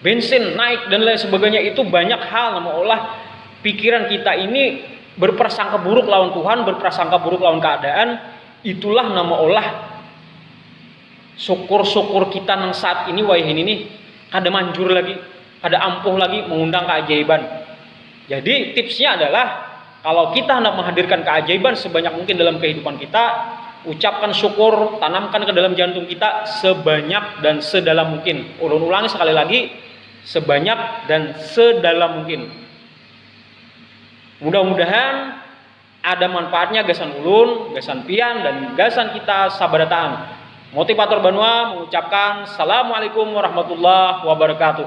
bensin naik dan lain sebagainya itu banyak hal yang mengolah pikiran kita ini berprasangka buruk lawan Tuhan, berprasangka buruk lawan keadaan, itulah nama olah syukur-syukur kita nang saat ini wayah ini nih kada manjur lagi, kada ampuh lagi mengundang keajaiban. Jadi, tipsnya adalah kalau kita hendak menghadirkan keajaiban sebanyak mungkin dalam kehidupan kita, ucapkan syukur, tanamkan ke dalam jantung kita sebanyak dan sedalam mungkin. Ulun ulangi sekali lagi, sebanyak dan sedalam mungkin. Mudah-mudahan ada manfaatnya gasan ulun, gasan pian, dan gasan kita sabarataan. Motivator Banua mengucapkan Assalamualaikum warahmatullahi wabarakatuh.